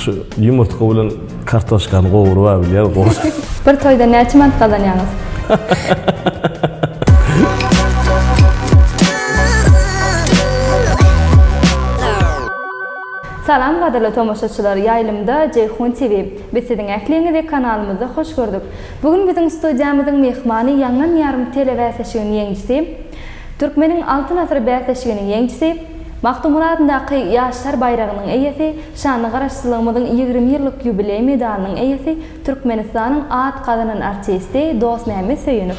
Şu yumurtga bilen kartoşkany gowurup abilýär gowy. Bir toýda näçe manat gazanýaňyz? Salam gadyrly tomaşaçylar ýaýlymda Jeýhun TV. Biz siziň ähliňizi kanalymyzda hoş gördük. Bu gün biziň studiýamyzyň myhmany ýaňlan ýarym telebäsleşiginiň ýeňijisi, Türkmeniň altyn asyry bäsleşiginiň ýeňijisi, Magtymguly adyndaky Ýaşlar baýragynyň eýesi, şanly Garaşsyzlygymyzyň ýigrimi ýyllyk ýubileý medalynyň eýesi, Türkmenistanyň at gazanan artisti Dostmämmet Söýünow.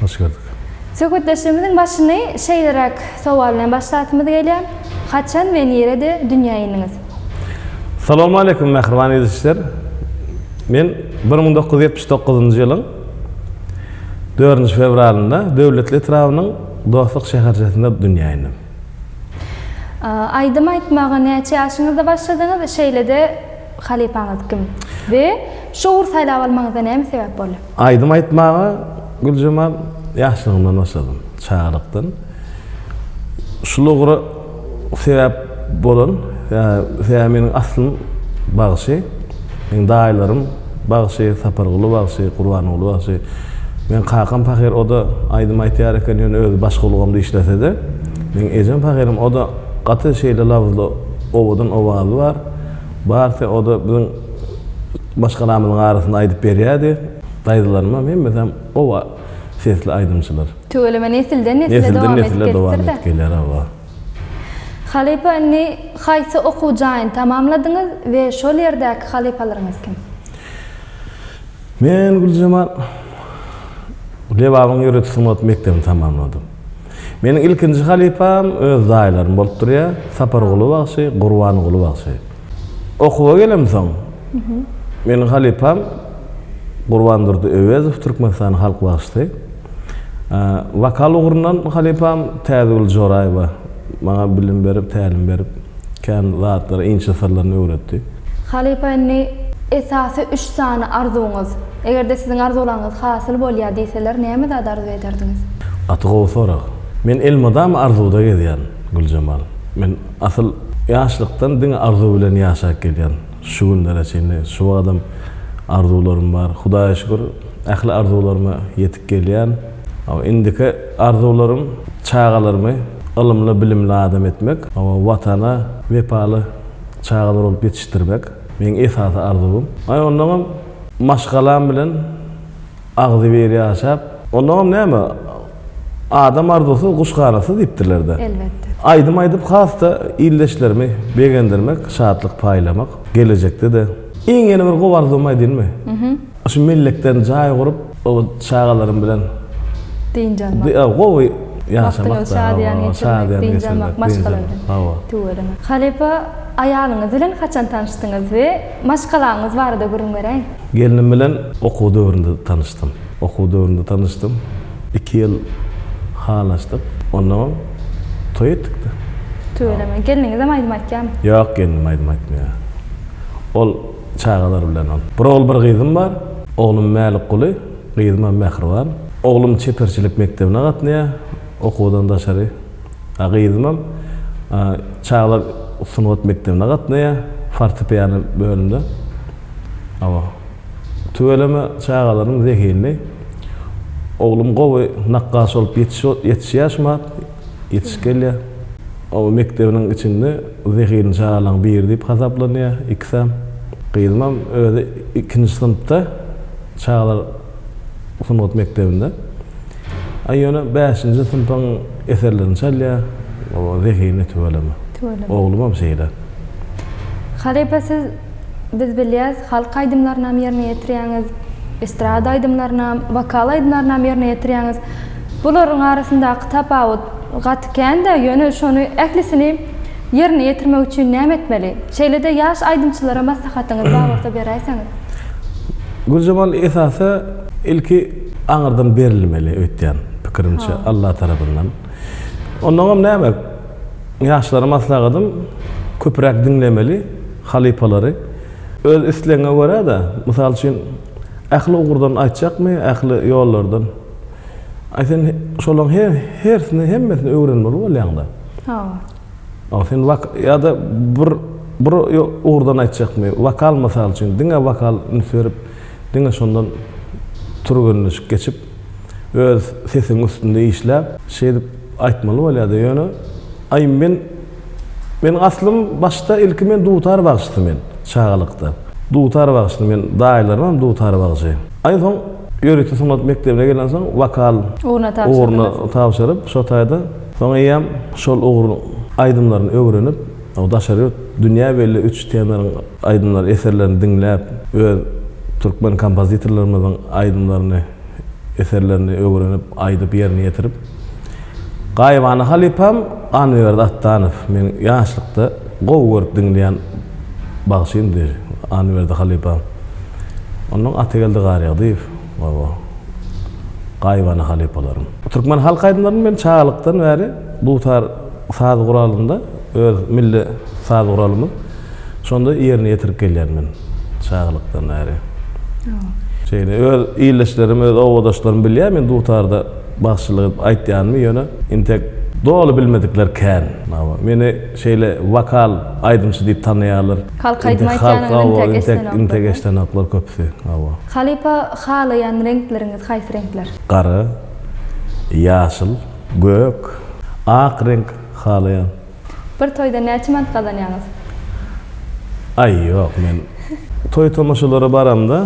Hoş gördük. Söhbetdeşligimiziň başyny şeýleräk sowal bilen başlasymyz gelýär, Haçan we nirede dünýä indiňiz? Salowmaleýkum mähriban ilçiler! Men bir müň dokuz ýüz ýetmiş dokuzynjy ýylyň dördünji fewralynda Döwletli etrabynyň Dostluk şäherçesinde dünýä indim. Aýdym aýtmaga näçe ýaşyňyzda başladyňyz, şeýle-de halypaňyz kim we şu ugry saýlap almagyňyza näme sebäp boldy? Aýdym aýtmaga Güljemal ýaşlygymdan başladym, çagalykdan. Şul ugra sebäp bolan, sebäbi meniň aslym bagşy. Meniň daýylarym bagşy, Saparguly bagşy, Gurbanguly bagşy. Meniň kakam pahyr, o-da aýdym aýtýar eken, ýöne özi başga ulgamda işlese-de. Meniň ejem pahyrym, o-da gaty şeýle labyzly, owadan owazy bar. Barsy o-da biziň maşgalamyzyň arasynda aýdyp berýärdi. Daýzalarymam hemmesem oba sesli aýdymçylar. Tüweleme nesilden nesile dowam edip gelipdir-dä. Nesilden nesile dowam edip gelýär, hawa. Halypa indi haýsy okuw jaýyny tamamladyňyz we şol ýerdäki halypalaryňyz kim? Men Güljemal Lebabyň ýörite sungat mekdebini tamamladym. Meniň ilkinji halypam öz daýylarym bolup durýar, Saparguly bagşy, Gurbanguly bagşy. Okuwa gelemsoň, meniň halypam Gurbandurdy Öwezow, Türkmenistanyň halk bagşysy. Wokal ugrundan halypam Täzigül Joraýewa maňa bilim berip, tälim berip, kän zatlary, inçe syrlaryny öwretdi. Halypa indi esasy üç sany arzuwyňyz, eger-de siziň arzuwlaryňyz hasyl bolýar diýseler, näme zady arzuw ederdiňiz? Gaty gowy sorag. Men elmydama arzuwda gezýän, Güljemal. Men asyl ýaşlykdan diňe arzuw bilen ýaşap gelýän. Şu günlere çenli şu wagadam arzuwlarym bar. Hudaýa şükür, ähli arzuwlaryma ýetip gelýän. Hawa, indiki arzuwlarym çagalarymy ylymly, bilimli adam etmek. Hawa, Watana wepaly çaga dogrup ýetişdirmek meň esasy arzuwym. Aý ondaňam maşgalam bilen agzybir ýaşap, ondaňam näme adam arzuwsyz guş ganatsy diýipdirlerde. Elbetde. Aýdym aýdyp has-da ildeşlerimi begendirmek, şatlyk paýlamak, gelejekde-de. Iň ýene bir gowy arzuwymy aýdynmy? Şu mellekden jaý gurup, o çagalarym bilen dynç almak. Ýa gowy ýaşamak. Wagtyňyzy şadyýan geçirmek, dynç almak maşgaladan. Hawa. Tüweleme. Halypa, aýalyňyz bilen haçan tanyşdyňyz we maşgalaňyz barada gürrüň beräýiň. Gelnim bilen okuw döwründe tanyşdym. Okuw döwründe tanyşdym. Iki ýyl halaşdyk. Onnoň toý etdik-de. Tüweleme. Gelniňizem aýdym aýtýarmy? Ýok, gelnim aýdym aýtmaýar. Ol. çagalar bilen ol. Bir ogul, bir gyzym bar. Oglum Mälikguly, gyzymam Mähriban. Oglum çeperçilik mekdebine gatnaýar, okuwdan daşary. A gyzymam çagalar sungat mekdebine gatnaýar, fortepiano bölümde. Hawa. Tüweleme çagalarym zehinli. Oglum gowy nakgaş bolup ýetişýär şu wagt. ýetiş gelýär. Oba mekdebiniň içinde zehinli çagalaryň biri diýip hasaplanýar ikisem. Gyzymam özi ikinji synpda çagalar sungat mekdebinde. A ýöne bäşinji synpyň eserlerini çalýar. Oba zehinli tüweleme. Tüweleme. Oglumam şeýle. Halypa siz Biz bilýäs, halk aýdymlarynam ýerine ýetirýäňiz, estrada aýdymlarynam, wokal aýdymlarynam ýerine ýetirýäňiz. Bularyň arasyndaky tapawut gaty kän-dä, ýöne şony ählisini ýerine ýetirmek üçin näme etmeli? Şeýle-de ýaş aýdymçylara maslahatyňyz bar bolsa beräýseňiz. Güljemal esasy ilki aňyrdan berilmeli öýtýän pikirimçe Alla tarapyndan. Onnoňam näme? Ýaşlara maslahatym, köpräk diňlemeli halypalary. Öz islegiňe görä-de, mysal üçin, ähli ugurdan aýtjakmy, ähli ýollardan? Aý sen şolaryň hersini, hemmesini öwrenmeli bolýaň-da. Hawa. Aý sen wok, ýa-da bir bir ugurdan aýtjakmy, wokal mysal üçin, diňe wokal üns berip, diňe şondan türgenleşik geçip. Öz sesiň üstünde işläp. Şeýdip aýtmaly bolýada ýöne aý men men aslym başda ilki men dutar bagşysy men çagalykda dutar bagşysy men daýylarymam dutar bagşy aý soň ýörite sungat mekdebine gelensoň wokal ugruna tabşyryp şo taýda soň eýýäm şol ugruň aýdymlaryny öwrenip O daşary ýurt, dünýä belli üç tenoryň aýdymlary, eserlerini diňläp, öz türkmen kompozitorlarymyzyň aýdymlaryny, eserlerini öwrenip, aýdyp, ýerine ýetirip. Gaýybana halypam Annaberdi Atdanow. Meň ýaşlykda gowy görüp diňleýän bagşymdy Annaberdi halypam. Onnoň Atageldi Garýagdyýew we o gaýybana halypalarym. Türkmen halk aýdymlaryny men çagalykdan bäri dutar. saz guralynda öz milli saz guralymyz şonda ýerine ýetirip gelýän men çagalykdan bäri. Şeýle öz ildeşlerim, öz obadaşlarym bilýär men dutarda bagşylyk edip aýtýanymy, ýöne intek doly bilmedikler kän. Meni şeýle wokal aýdymçy diýip tanaýarlar. Halk aýdym aýtýanyňy intek eşdenoklar köpüsi. Hawa. Halypa halaýan reňkleriňiz haýsy reňkler? Gara, ýaşyl. Gök, ak reňk halaýan. Bir toýda näçe manat gazanýaňyz? Aý ýok men toý tomaşalara baramda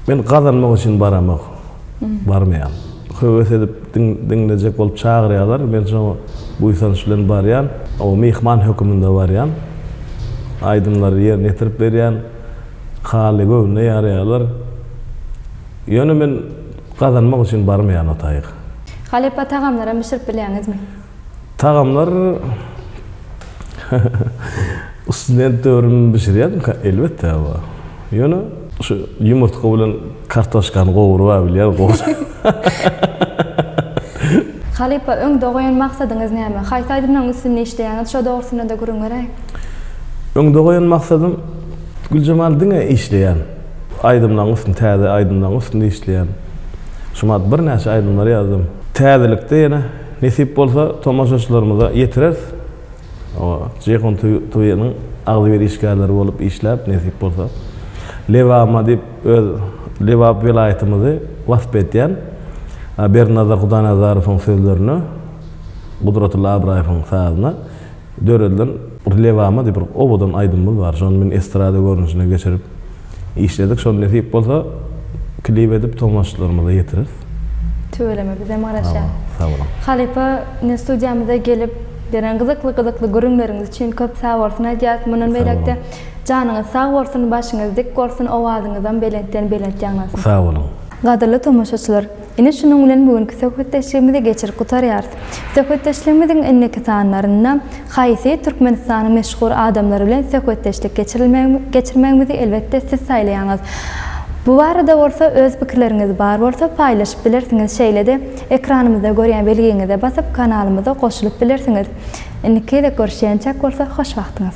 men gazanmak üçin baramok barmaýan. Höwes edip diňlejek bolup çagyrýalar men şoňa buýsanç bilen barýan. O myhman höküminde barýan. Aýdymlary ýerine ýetirip berýän. Haly göwnüne ýarýalar. Ýöne men gazanmak üçin barmaýan o taýy. Halypa tagamlaram bişirip bilýäňizmi? Tagamlar student döwrümden bişirýärdim ka elbetde aba. Ýöne şu ýumurtga bilen kartoşkany gowurba bilýär Halypa öňde goýan maksadyňyz näme? Haýsy aýdymlaryň üstünde işleýäňiz şo dogrusynada gürrüň beräý? Öňde goýan maksadym Güljemal diňe işleýän. Aýdymlaryň üstünde täze aýdymlaryň üstünde işleýän. Şumat birnäçe aýdymlary ýazdym. Täzelikde ýene nesip bolsa tomaşaçylarymyza ýetireris. Oňa Ceyhun TV-niň agzybir işgärleri bolup işläp nesip bolsa. Lebama diýip öz Lebap welaýatymyzy wasp edýän Berdinazar Hudaýnazarowyň sözlerine, Gudratilla Abraýewiň sazyna. döredilen Lebama diýip bir owadan aýdymymyz bar. Şony men estrada görnüşine geçirip işledik. Şony nesip bolsa klip edip tomaşaçylarymyza ýetireris. Tüweleme bizem garaşýas. Sag boluň. Halypa ine studiýamyza gelip beren gyzykly gyzykly gürrüňleriňiz üçin köp sagbolsun aýdýas. Mundan beýläkde janyňyz sag bolsun, başyňyz dik bolsun, owazyňyzam belentden belent ýaňlansyn. Sag boluň. Gadyrly tomaşaçylar! Ine şunuň bilen bu günki söhbetdeşligimizi geçirip gutarýarys. Söhbetdeşligimiziň indiki sanlarynda haýsy Türkmenistanyň meşhur adamlary bilen söhbetdeşlik geçirilmegi geçirmegimizi elbetde siz saýlaýaňyz. Bu barada bolsa öz pikirleriňiz bar bolsa paýlaşyp bilersiňiz şeýle-de ekranymyzda görýän belgiňize basyp kanalymyza goşulyp bilersiňiz. Indiki gezek görüşýänçäk bolsa hoş wagtyňyz.